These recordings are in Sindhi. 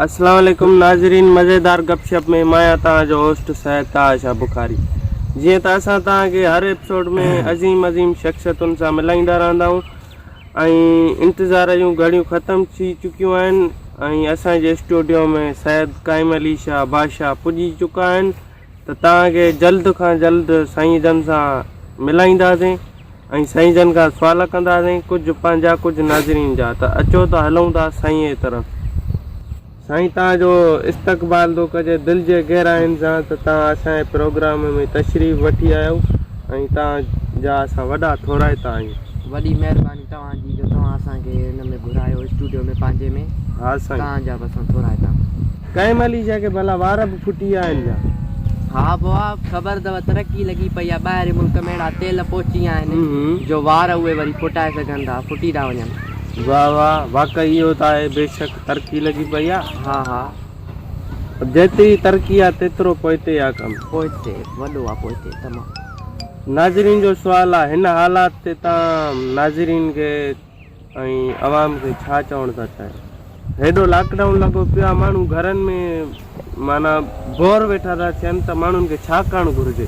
السلام علیکم ناظرین مزيدار گپ شپ ۾ مان آهيان تان جو هوسٽ سيد طاهر شاهه بخاري جيئن ته اسان تان کي هر ايپيسوڊ ۾ عظيم عظيم شخصيتن سان ملائيندا رهندا آهيون ۽ انتظار جون گهڙيون ختم ٿي چڪيون آهن ۽ اسان جي اسٽوڊيو ۾ سيد قائم علي شاهه بادشاهه پڄي چڪا آهن ته توهان کي جلد کان جلد سائين جن سان ملائينداسين ۽ سائين جن کان سوال ڪنداسين ڪجهه پنهنجا ڪجهه ناظرين جا ته اچو ته هلون ٿا سائين جي طرف سائين توهان جو استقبال ٿو ڪجي دل جي گهراين سان ته توهان اسان جي پروگرام ۾ تشريف وٺي آيا آهيو ۽ توهان جا اسان وڏا ٿورائتا آهيون. وڏي مهرباني توهان جي جو توهان اسان کي ان ۾ گهرايو اسٽوڊيو ۾ پنهنجي ۾ ها سائين. توهان جا به اسان ٿورائتا آهيون. ڪائم علي شاهه کي ڀلا وار به ڦٽي ويا آهن ڇا؟ ها بوا خبر اٿو ترقي لڳي پئي آهي ٻاهرين ملڪ ۾ اهڙا تيل پهچي ويا آهن جو وار اهي وري ڦٽائي سگهن ٿا ڦٽي ٿا وڃن. واه واه واقعي اهو ته آهي بيشڪ. ترقي لڳي پئي آ ها ها. جيتري ترقي آ تيترو پوئتي آ ڪم. پوئتي وڏو آ پوئتي تمام. ناظرين جو سوال آ هن حالات تي تان ناظرين کي ۽ عوام کي ڇا چوڻ ٿا چاهيو. هيڏو لاڪ ڊائون لڳو پيو آ ماڻهو گهرن ۾ معنيٰ بور ويٺا ٿا ٿين ته ماڻهن کي ڇا ڪرڻ گهرجي.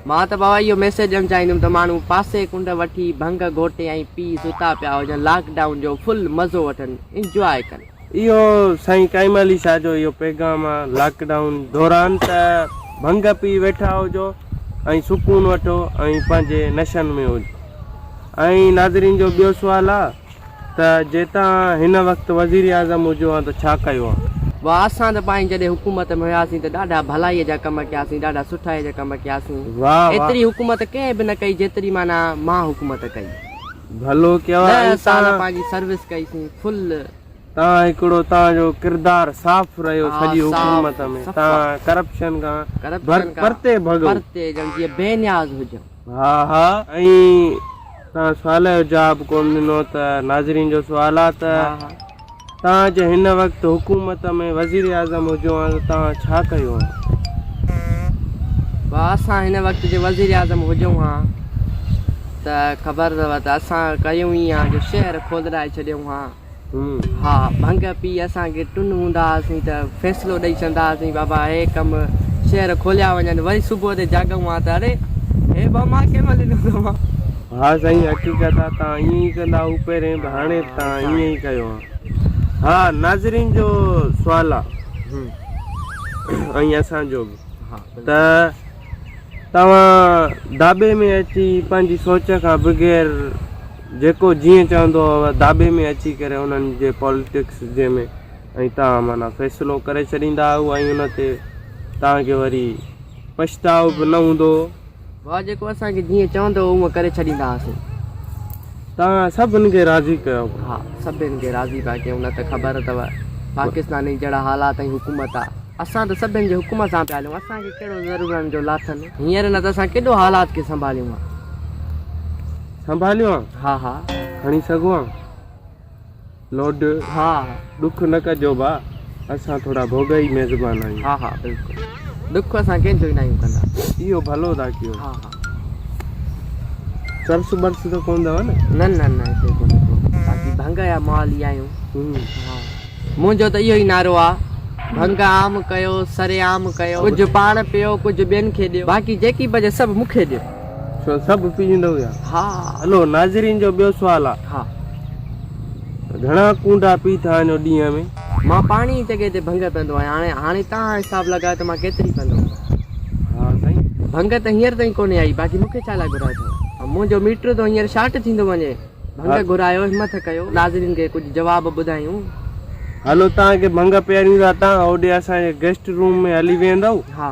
مان ته بابا اهو ميسيج ڏيڻ چاهيندم ته ماڻهو پاسي ڪنڊ وٺي ڀنگ گهوٽي ۽ پي ستا پيا هجن لاڪ ڊائون جو فل مزو وٺن. انجواء ڪن. اهو سائين قائم علي شاهه جو اهو پيغام آ لاڪ ڊائون دوران ته ڀنگ پي ويٺا هجو ۽ سڪون وٺو ۽ پنهنجي نشن ۾ هجو ۽ ناظرين جو ٻيو سوال آ ته جي تان هن وقت وزير اعظم هجو ها ته ڇا ڪيو ها. واه اسان ته پائين جڏهن حڪومت ۾ هياسين ته ڏاڍا ڀلائي جا ڪم ڪياسين ڏاڍا سٺائي جا ڪم ڪياسين واه واه. ايتري حڪومت ڪنهن به نه ڪئي جيتري معنيٰ مان حڪومت ڪئي. ڀلو ڪيو آهي ڏهه سال توهان. پنهنجي سروس ڪئي سين فل. توهان هڪڙو توهان جو ڪردار صاف رهيو ها سڄي صاف حڪومت ۾ صفا توهان ڪرپشن کان ڀر ڪرپشن کان پرتي ڀڳو. پرتي ڄڻ جيئن بي نياز هجو. ها ها ائين توهان سوال جو جواب ڪون ڏنو ته ناظرين جو سوال آ ته ها ها. توهان جي هن وقت حڪومت ۾ وزيراعظم هجو ها ته توهان ڇا ڪيو ها؟ ڀاء اسان هن وقت جي وزيراعظم هجون ها ته خبر اٿو ته اسان ڪيون ايئن ها جو شهر کولرائي ڇڏيون ها. ها ڀنگ پي اسان کي ٽن هوندا هئاسين ته فيصلو ڏئي ڇڏندا هئاسين بابا هي ڪم شهر کوليا وڃن وري صبح تي جاڳون ها ته اڙي هي ٻه مان ڪنهن مهل ڏنو ها. ها سائين حقيقت آ تان ائين ئي ڪندا هو پهرين به هاڻي به تان ائين ئي ڪيو ها ها ناظرين جو سوال آ ائين اسان جو به ته توهان داٻي ۾ اچي پنهنجي سوچ کان بغير جيڪو جيئن چوندو هو داٻي ۾ اچي ڪري انهن جي پوليٽڪس جي ۾ ۽ توهان معنيٰ فيصلو ڪري ڇڏيندا هو ۽ ان تي توهان کي وري پڇتاء به نه هوندو هو واهه جيڪو اسان کي جيئن چوندو هو اونئن ڪري ڇڏيندا هئاسين. توهان سڀن کي راضي ڪيو. ها سڀن کي راضي پيا ڪيون نه ته خبر اٿو پاڪستانين جهڙا حالات ۽ حڪومت آ. اسان ته سڀن جي حڪم سان پيا هلون اسان کي ڪهڙو ضرورن جو لاٿن. هينئر نه ته اسان ڪيڏو حالات کي سنڀاليون ها. سنڀاليون ها. ها ها. کڻي سگهون ها. لوڊ، ها ڏک نه ڪجو ڀاء، اسان ٿورا ڀوڳائي ميزبان آهيون. ها ها بلڪل، ڏک اسان ڪنهن جو ئي ناهيون ڪندا. اهو ڀلو ٿا ڪيو. ها ها. چرس برس ته ڪونه اٿو نه؟ نه نه نه هتي ڪونه اٿو، باقي ڀنگ جا مال ئي آهيون. ها. منهنجو ته اهو ئي نعرو آ، ڀنگ عام ڪيو، سرعام ڪيو. ڪجهه پاڻ پيو، ڪجهه ٻين کي ڏيو، باقي جيڪي بچي سڀ مون کي ڏيو. ڇو سڀ پيئندا هيا. ها. هلو ناظرين جو ٻيو سوال آ. ها. گهڻا ڪونڊا پي ٿا وڃو ڏينهن ۾؟ مان پاڻي هي جڳهه تي ڀنگ پيندو آهيان هاڻي هاڻي تهان حساب لڳايو ته مان ڪيتري پيندو هوندس. ها سائين. ڀنگ ته هينئر تائين ڪونهي آئي باقي مون کي ڇا لاء گهرايو اٿو. منهنجو ميٽر ٿو هينئر شارٽ ٿيندو وڃي. ڀنگ گهرايو همٿ ڪيو ناظرين کي ڪجهه جواب ٻڌايون. هلو تهان کي ڀنگ پياريون ٿا تهان هوڏي اسان جي گيسٽ روم ۾ هلي ويهندؤ. ها.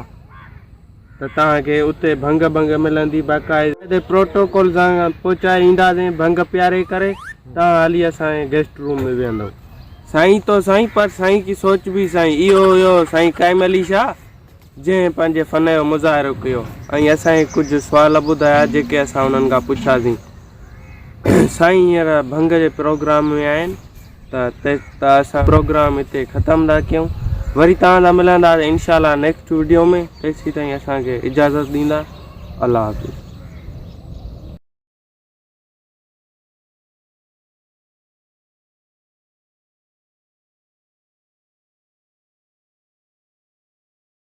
ته توهان کي اتي ڀنگ ڀنگ ملندي باقاعدي پروٽوڪول سان پهچائي اينداسين ڀنگ پياري ڪري توهان هلي اسان جي گيسٽ روم ۾ ويهندو سائين تو سائين پر سائين ڪي سوچ بي سائين اهو هيو سائين قائم علي شاهه جنهن پنهنجي فن جو مظاهرو ڪيو ۽ اسان کي ڪجهه سوال ٻڌايا جيڪي اسان انهن کان پڇياسين سائين هينئر ڀنگ جي پروگرام ۾ آهن ته ته اسان پروگرام هتي ختم ٿا ڪيون وري تان سان ملندا انشاء الله نيڪسٽ ويڊيو ۾ تيسي تائين اسان کي اجازت ڏيندا الله حافظ